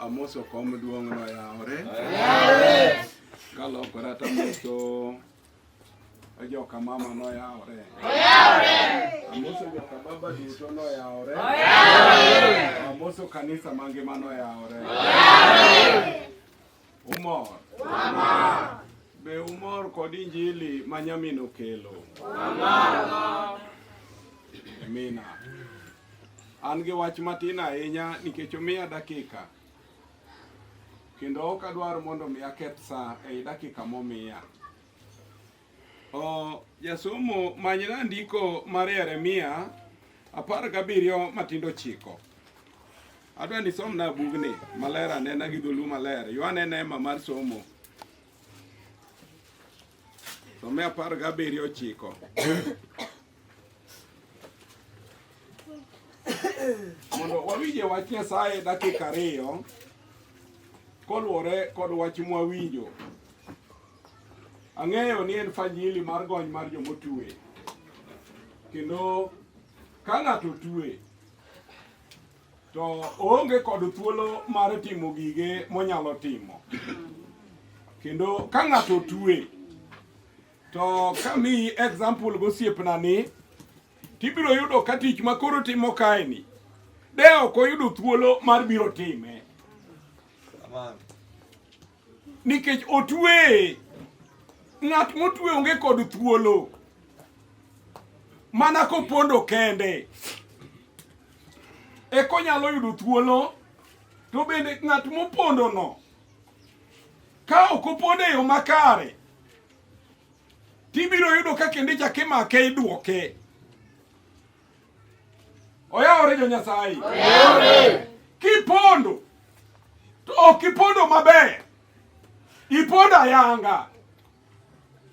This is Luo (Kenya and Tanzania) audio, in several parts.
Amoso kom duong' no yawore. Kalokora to amoso joka mama no yawore. Amoso joka baba duto no yawore. Amoso kanisa mangima no yawore. Umor. Wamor. Be umor kod injili ma nyamin okelo? Wamor. Amina. An gi wach matin ahinya nikech omiya dakika kendo ok adwar mondo mi aketh saa ei dakika momiya. O, jasomo manyna ndiko mar Yeremia apar gabiriyo matindo chiko. Adwa ni somna bugni maler anena gi dholu maler. Yo anena ema mar somo. Some apar gabiriyo chiko. mondo wawinje wach Nyasaye dakika ariyo koluwore kod wach mwawinjo. Ang'eyo ni en fanyili mar gony mar jomotue, kendo ka ng'ato tue to oonge kod thuolo mar timo gige monyalo timo, kendo ka ng'ato tue To kamiyi example gosiepna ni tibiro yudo ka tich ma koro timo kaeni de ok oyudo thuolo mar biro time nikech otweye ng'at motwe onge kod thuolo mana kopondo kende ekonyalo yudo thuolo to bende ng'at mopondono Ka ok opone e yo makare, tibiro yudo ka kendo ichak imake idwoke. Oyawore jo Nyasaye. Kipondo to ok ipondo maber, ipondo ayanga.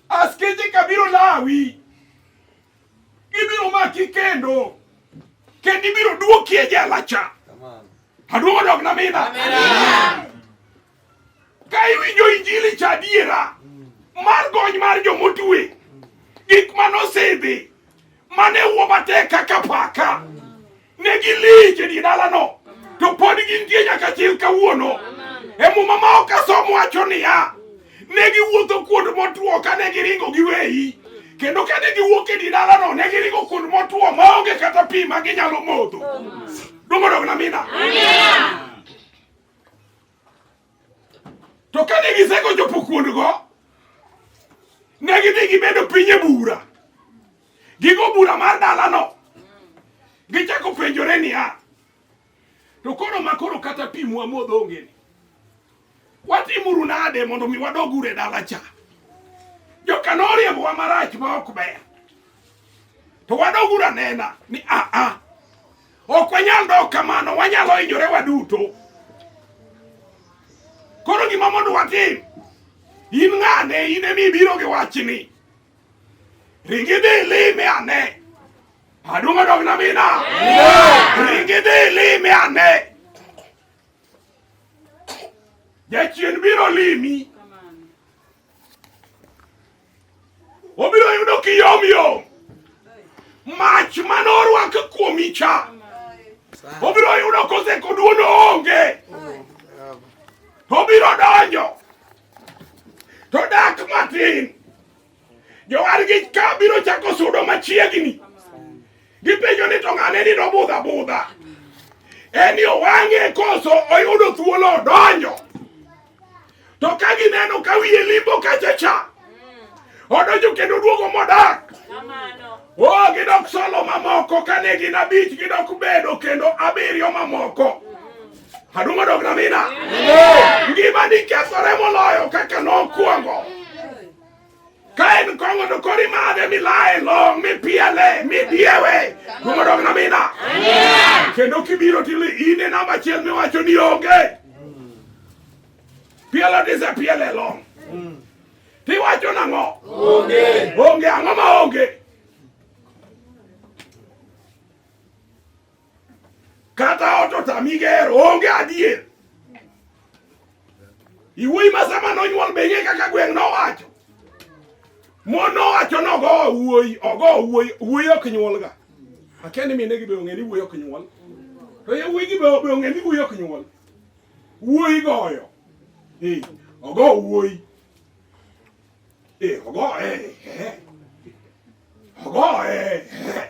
Askeche ka biro lawi, gibiro maki kendo kendo ibiro duoki e jela cha. Aduogo dok na mina. Ka iwinjo injili cha adiera mar gony mar jomotue, gik ma nosidhi mane wuo matek kaka paka ne gilich e die dalano to pod gintie nyaka chil kawuono. E muma ma ok asom wacho niya, ne giwuotho kuond motwo kane giringo giweyi kendo kane giwuok e die dalano ne giringo kuond motwo maonge kata pi ma ginyalo modho. Duong' odog na mina. To kane gisego chopo kuondgo, ne gidhi gibedo piny e bura, gigo bura mar dalano, gichako penjore niya, to koro ma koro kata pi mwamodho ongeni, watimuru nade mondo mi wadog ure dala cha? Joka noriembowa marach ma ok ber, to wadog ura nena ni aa, ah, ah, Ok wanyal dok kamano, wanyalo hinyore waduto. Koro gima mondo watim, in ng'ane, in emi ibiro gi wachni. Ringi dhi ilime ane. Aduong' odog na mina. Ringi dhi ilime ane. Jachien biro limi. Obiro yudo kiyom yom. Mach mane orwako kuomi cha. Obiro yudo koseko duono onge. Obiro donjo. To dak matin. Jowargi ka biro chako sudo machiegni. Gipenjo ni to ng'ane ni nobudha budha. En yo wang'e koso oyudo thuolo odonjo. To ka gineno ka wiye limbo kacha cha. Odonjo kendo duogo modak. Oh, gidok solo mamoko kane gin abich gidok bedo kendo abiriyo mamoko. Adumo dog na mina. Ngima ni kethore moloyo kaka nokwongo. Ka en kong'o to kori madhe milaye long mipiele midiewe kumodog namina kendo kibiro tili in e namba achiel miwacho ni onge pielo disepiele long tiwacho nang'o onge onge ang'o ma onge Kata ot otami gero, onge adier. Iwuoyi ma sama nonyuol be ing'e kaka gweng' nowacho. Mon nowacho ni ogo wuoyi, ogo wuoyi, wuoyi ok nyuolga. Akia ni mine gi be ong'e ni wuoyi ok nyuol. To yawuoyi gi be be ong'e ni wuoyi ok nyuol. Wuoyi goyo. Eh, ogo wuoyi. Eh, ogo eh. eh. Ogo eh. eh.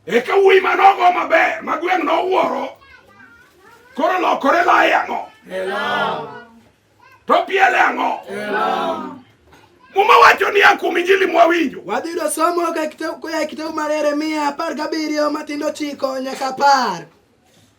Eka wuoyi ma nogo maber ma gweng' nowuoro koro lokore laye ang'o? To piele ang'o? Muma wacho ni a kuom Injili mwawinjo. Wadhi yudo somo koya e kitabu mar Yeremia apar gabiriyo matindo chiko nyaka apar.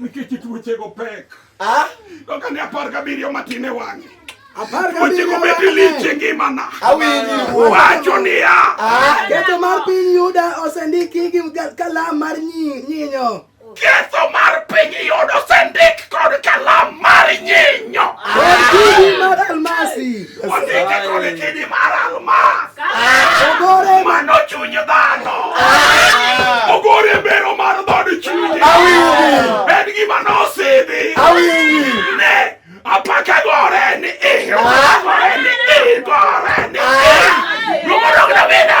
Nikech tuochego pek. Ah? Doka ne apar gabiriyo matin e wang'e. Apar gabiriyo matin. Tuochego lich e ngimana. Awinji. Wacho niya. Ah? Ketho mar piny Yuda osendiki gi kalam mar nyinyo. Ketho mar piny Yuda osendik kod kalam mar nyinyo. Ah! Almasi. Wasike koni kidi mar almas. Ogore mano chuny dhano. Ogore mbero mar dhod chunye. En gima nosidhi. Ne apaka gore ni i. Gore ni i. Gore ni i. Rumo dog na bina.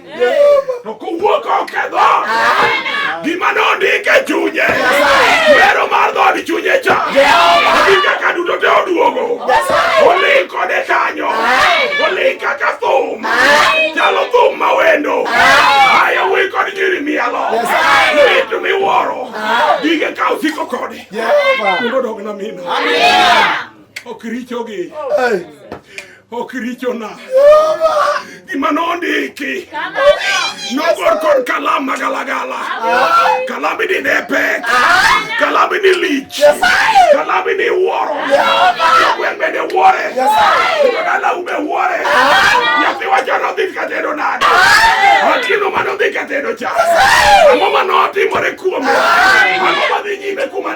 To kowuok oketho gima nondike e chunye wero mar dhod chunye cha gi kaka duto te oduogo oling kode kanyo oling kaka thum chalo thum ma wendo ayo wi kod nyiri mielo mitu miwuoro gige ka osiko kode mondo odog na mino ok richogi ok richona gima nondiki nogor kod kalam magalagala kalami ni ne pek kalami ni lich kalami ni wuoro gweng' bende wuore oganda ume wuore nyathi wacho nodhi katedo nade atino manodhi katedo cha ang'o manotimore kuome ang'o madhi nyime kuma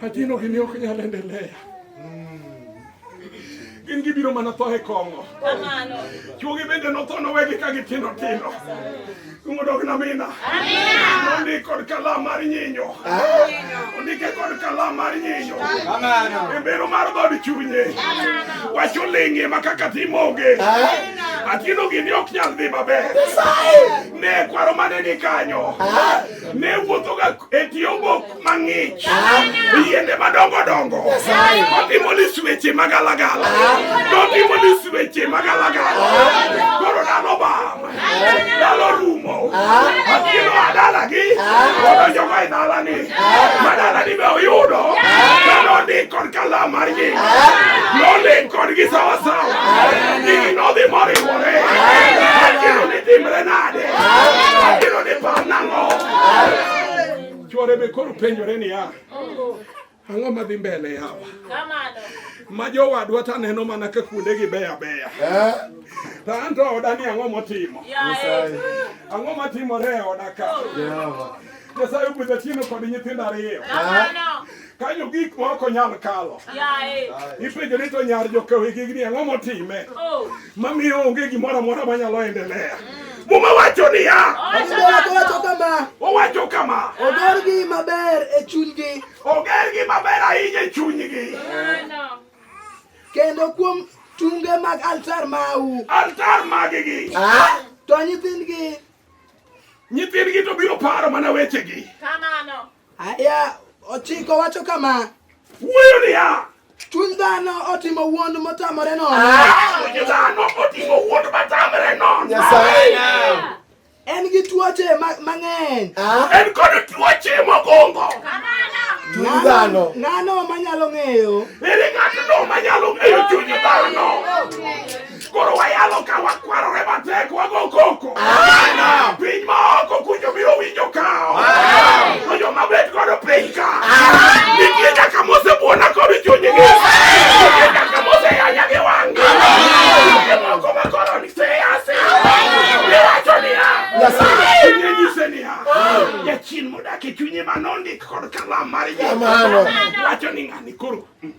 Hajino gini ok nyal endelea. Gin gibiro mana tho e kong'o. Chuogi bende notho nowegi ka gitindo tindo. Ungodog na mina. Amina. Undi kod kalam mar nyinyo. Undike kod kalam mar nyinyo. Amina. Embero mar god chunye. Amina. Wacho lingi makaka timoge. Amina. Atino gini ok nyal dhi maber. Ne kwaro mane ni kanyo. Amina. ne wuothoga e tie obok mang'ich yiende madongo dongo otimo lis weche magalagala notimo lis weche magalagala koro dano bam dalo rumo atieno adalagi odonjoga e dalani ma dalani be oyudo kanondik kod kalam mar nying nondik kodgi sawasawa nyingi nodhi moriwore atieno ni timre nade Abiro ni par nang'o? Chwore be koro penjore niya, ang'o madhi mbele yawa? Ma jowadwa to aneno mana ka kuondegi beyo abeya. Eh? To an to oda ni ang'o motimo? Ang'o matimore e oda ka? Nyasaye ogwedho chieno kod nyithindo ariyo. kanyo gik ma ok onyal kalo ipenjo ni to nyar jokawegigni ang'o motime oh. mamiyo onge gimoro amora manyalo endelea mm. muma wacho niya owacho kama ogergi maber e chunygi ogergi maber ahinya e chunygi kendo kuom tunge mag altar mau altar magigi ah? to nyithindgi nyithindgi to biro paro mana wechegi kamano Aya ochiko wacho kama. Wuoyo niya. Chuny dhano otimo wuond motamore nono. Ah, chuny dhano otimo wuond motamore nono. Nyasaye. En gi tuoche mang'eny. Ah. En kod tuoche mogongo. Chuny dhano. Ng'ano manyalo ng'eyo? Ere ng'atno manyalo ng'eyo chuny dhano? Koro wayalo ka wakwarore matek wago koko. Piny ma oko kunjo biro winjo kawo. To joma bet godo piny ka. Nitie nyaka mosebuona kod chunygi. Nitie nyaka moseyanya gi wang'gi. Nitie moko ma koro ni seyasi. Iwacho niya. Chunye nyise niya. Jachien modak e chunye ma nondik kod kalam mar Yesu. Kamano. Wacho ni ng'ani koro. mm,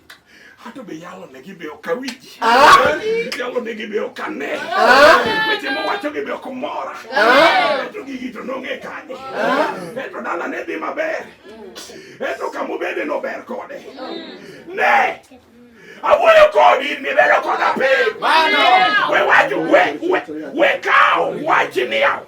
Hata be yalo ne gibe ok awinji. Ah! Yalo ne gibe ok ane. Ah! Weche mowacho gibe ok mora. Ah! To gigi to nong'e kanye. Eto dala ne dhi maber. Eto kama obede nober kode. Ne! Awuoyo kodi nibedo koda piny. We wacho we we we kawo wachni yawo.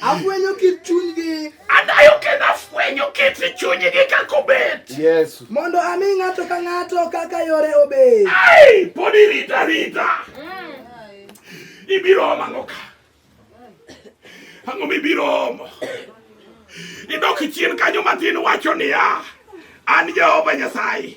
Afwenyo kit chunygi. Adayo kendo afwenyo kit chunygi kaka obet. Yes. Mondo ami ng'ato ka ng'ato kaka yore obet. Ai, pod irita rita. Mm. Ibiro omo ang'o ka? Ang'o mibiro omo? Idok chien kanyo matin wacho niya, an Jehova Nyasaye.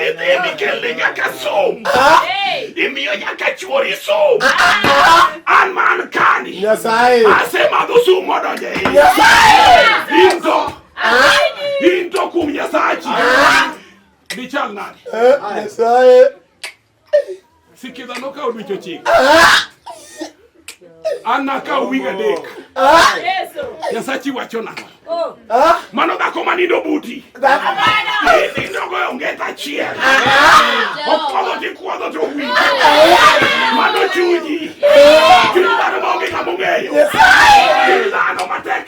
Idhi mikel ni nyaka sum. Imiyo nyaka chuori sum. An man kani. Nyasaye. Asemadho sum modonje. Nyasaye. Into. Into kum Nyasachi. Dichal nani? Nyasaye. Sikiza nokawo dweche ochiko. An nakawo wige adek. Nyasachi wacho nang'o? Oh. Mano dhako ma nindo buti. Nindogo e onget achiel. Okwodho ti kwodho to wi. Mano chunyi. Chunyi dhano ma onge ng'ama ong'eyo. Chunyi dhano matek.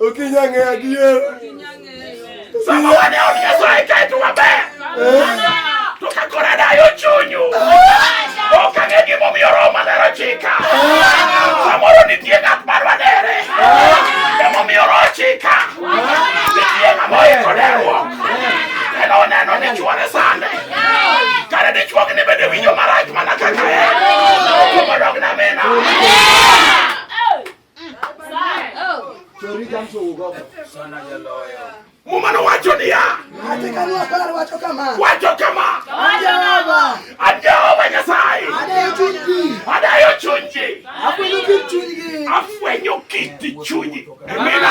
Ukinyang'e adier. Sama wane onyeso e kae to waber. To ka kora dayo chunyu. Ok ang'e gima omiyo roho maler ochika. Samoro nitie ng'at ma dwadere. Emomiyo roho ochika. Nitie ng'ama oiko deruok. En oneno ni chwore sande. Kare dichuogni bende winjo marach mana kaka en. Kuom odog na mina. Mumano wacho niya, wacho kama, wacho kama, Jehova Nyasaye adayo chuny ji, afwenyo kit chunygi. Amina.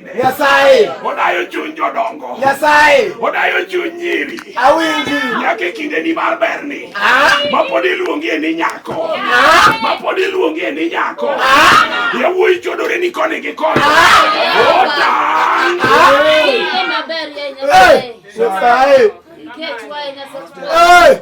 Nyasaye. Odayo chuny jodongo. Nyasaye. Odayo chuny nyiri. Awinji. Nyaka e kinde ni mar berni. Ah. Ma pod iluongie ni nyako. Ah. Ma pod iluongie ni nyako. Ah. Yawuoyi chodore ni koni gi koni. Ota. Nyasaye. Nyasaye.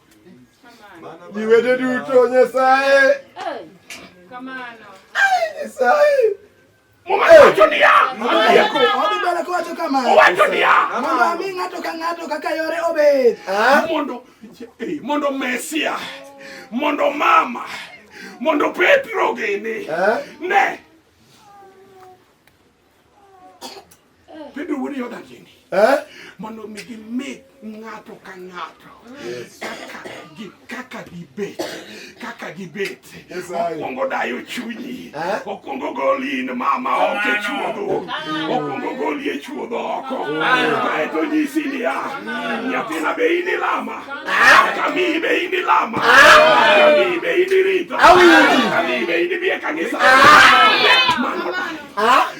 Jiwete duto Nyasaye. Kamano. Nyasaye. Owacho niya, owacho kama, owacho niya, mondo ami ng'ato ka ng'ato kaka yore obed, mondo mondo Mesia, mondo mama, mondo Petro gini ne Pedro wuod Yoda gini eh? mondo mi gimi ng'ato ka ng'ato kaka gibet kaka gibet okwongo dayo chunyi eh? okwongo goli in mama oko e chuodho okwongo goli e chuodho oko kaeto nyisi niya nyathina be in ilama kamiyi be in ilama kamiyi be in irito kamiyi be in ibiye kanisa mano dayo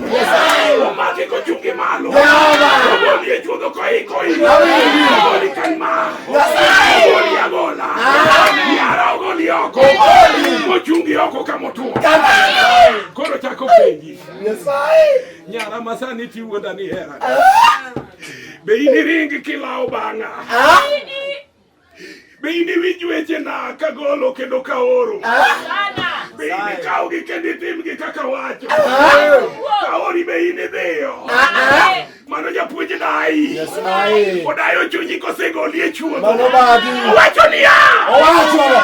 Omaki kochungi malo. Omoni e chuodho koiko iko. Omoni kan ma. Omoni agola. Yara ogoli oko. Mochungi oko kamotuo. Koro chako penji. Nyara masani tiwuonda ni hera. Be in iringi kilawo bang'a? Be iniwinj wechena kagolo kendo kaoro? Be inikawgi kendo itimgi kaka wacho? Kaori be inidhiyo? Mano japuonj dayi. Odayo chunyi kosegoli e chuodho. Owacho niya. Owacho.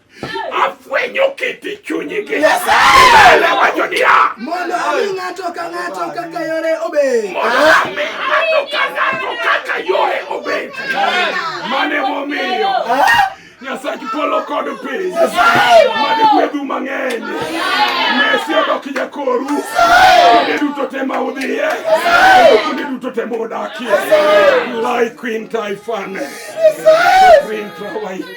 Afwenyo kit chunygi. Ele wacho niya. Mondo ami ng'ato ka ng'ato kaka yore obed. Mondo ami ng'ato ka ng'ato kaka yore obed. Mane momiyo. Nyasachi polo kod piny. Mane gwedhu mang'eny. Mesi odok jakoru. Kuonde duto te ma udhiye. Kuonde duto te ma udakie. Lai Queen Taifane. Queen Trawai.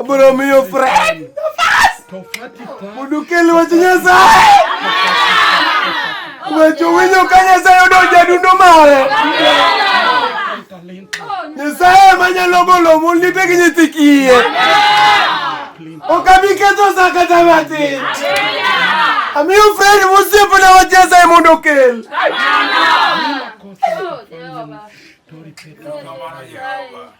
Abro miyo friend. Mondo kel wach Nyasaye. Wecho winjo ka Nyasaye odonjo e dundo mare. Nyasaye ma nyalo golo mon lite gi nyithi kiye. Ok abi ketho sa kata matin. Amiyo friend mosiepna wach Nyasaye mondo okel. Amen.